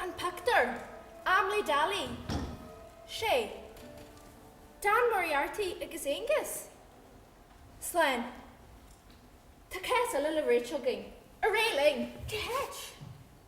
An pictiúr, Amlaidh Daly, 6. Dan Moriarty agus Aengus Slane, Tá cás eile le Rachel againn, arae linn! Th.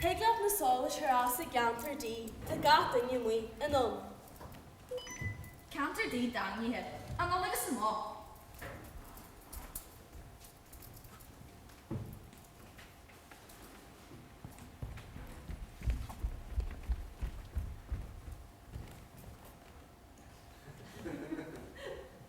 Thig leat na solais a chur as i gceantar D, tá gach duine amuigh anonn. Ceantar D daingnithe, anonn agus amach.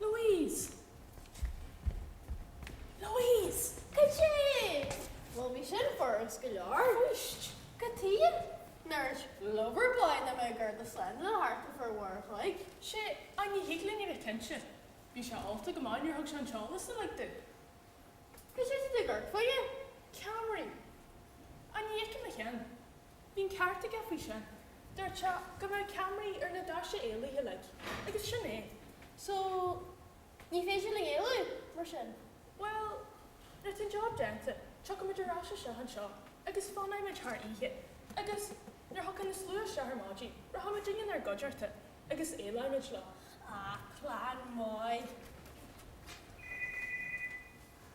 Louise! Louise! Cad é? Bhuel, bhí sin furast go leor, arís. Cad chuige? Nár dhúirt Lover Boy nach mbeadh garda slándála thart ar feadh uair a chloig. Sea, ach ní thig linn a bheith cinnte. Bhí sé ólta go maith nuair thug sé an t-eolas uilig dúinn. Cad é tá tú ag cuartú? Ceamaraí. Ach ní fheicim aon cheann. Bhí an ceart aige faoi sin. Dúirt sé go raibh ceamaraí ar na doirse éalaithe uilig agus sin é. So, ní féidir linn éalú, mar sin? Bhuel, nuair tá an job déanta, tiocfaidh muid ar ais isteach anseo agus fanfaidh muid thar oíche agus nuair a thiocfaidh an slua isteach ar maidin, rachaidh muidinne ina gcuideachta agus éalóidh muid leo. Ah, plean maith.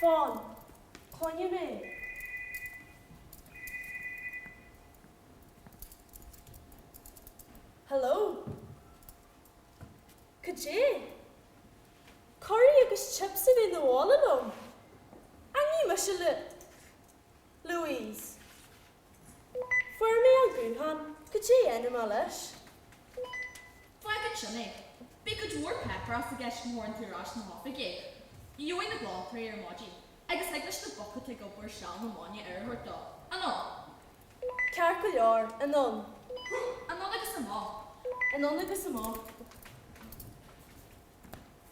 Fan. Coinnigh mé. Hello. Cad é? Curry agus chips a bhreith 'na bhaile liom. Á, ní mise Louise? Fuair mé an guthán goidé a dhéanfaidh mé leis. Fág ansin é. Beidh cuid mhór páipéarachais i gceist má thabhrann tú ar ais 'na hoifige é. Gheobhaidh na glantóirí ar maidin é agus thig leis na boic atá ag obair seal na maidne aire a thabhairt dó. Anonn. Ceart go leor, anonn. Anonn agus amach. Anonn agus amach.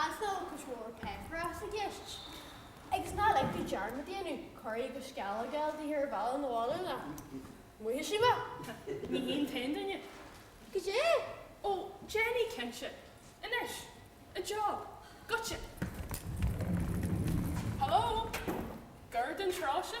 as dá bhfuil cuid mhór páipéarachas i gceist, agus ná lig dom dearmad a dhéanamh curry agus sceallóga a fháil ar an bhealach 'na bhaile nó buailfidh sí mé, ní hí an t-aon duine. Goidé? Ó, déanfaidh, cinnte. Anois. An job. Goitse. Hello? Gur don trá sin?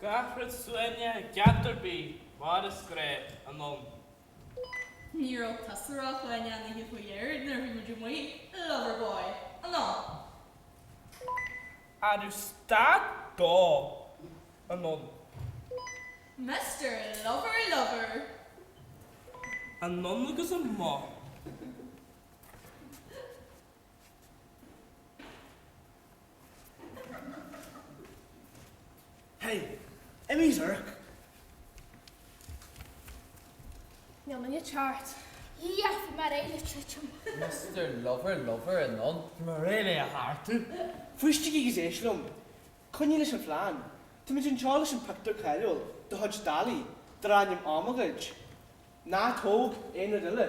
Gach rud soin i gceart ar bith mar is gré anonn. Ní raibh tusa a rá chugainn an oíche faoi dheireadh nuair a bhí muid amuigh, a Loverboy. An ea? An raibh stad dó anonn? Mister Lover Lover. Anonn agus amach. Hey, Emmy's irc. Níl mé níos ceart. Yes, mar é le titim. Mister Lover Lover anonn. Mar é le a tharr tú. Ciúnaígí agus éistigí liom. Coinnigh leis an phlean. Táimid anseo leis an pictiúr cáiliúil de chuid Dali, darb ainm Am a ghoid. Ná tóg aon rud eile.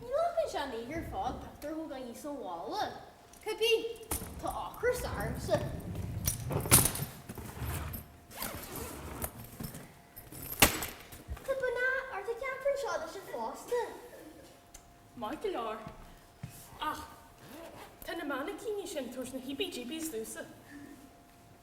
Glacann sé an oíche ar fad pictiúr a thógáil anuas ón bhalla, cibé. Tá ocras ormsa. Tá bean ard ag ceapadh an seoid sin fosta. Maith go leor. Ach tá na mainicíní sin tar éis na híbí-díbí a scriosadh.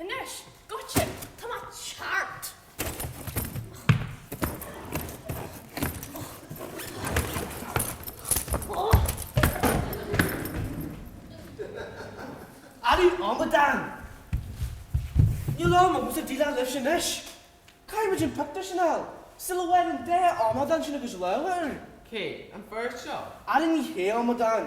Anois, goitse, tá mé ceart! A amadáin! Níl am agam a bheith ag déileáil libhse anois. Caithfidh muid an pictiúr sin a fháil sula bhfaighidh an dá amadán sin a gcuid lámha air. Cé? An fear seo? Ara ní hé a amadáin.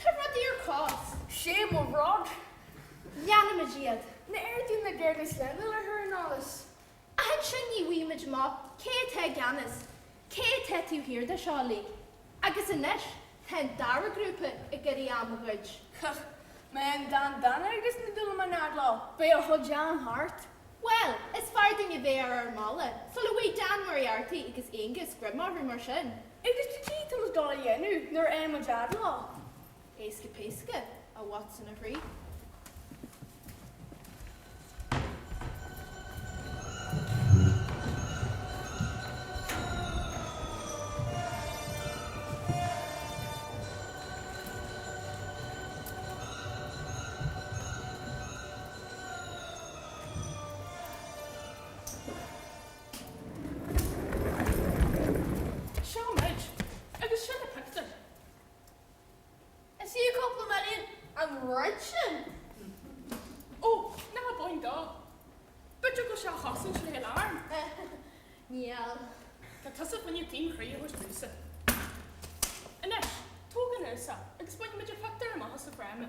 Tá rudaí ar casadh. 'Sé mo bhrath, déanfaimid iad. Na hAirdí na gCearna a leibhéal a chur in eolas. Ach ansin ní bhfaighimid amach, cé atá i gceannas? Cé atá taobh thiar de seo uilig? Agus anois tá an dara grúpa ag iarraidh am a ghoid. Ach má fhaigheann Dan Dána agus na Dúlamáin a fhad leo, beidh a chuid am thart. Bhuel, is fearr duinn a bheith ar ár mbealach sula bhfaighidh Dan Moriarty agus Aonghus greim orthu mar sin. Agus caidé tá muid ag dul a dhéanamh nuair a fhaigheann muid a fhad leo? Éasca péasca, a Watson a chroí. Seo muid, agus sin na pictiúir. Is í an cúpla mar aon an rud sin. Ó, ná habair an dá. B'fhéidir go sea a chosain sé an arm. Níl. Tá tusa chun an t-aon chroí a thabhairt domsa. Anois, tóg anuas é agus bainfimid an pictiúr amach as an fráma.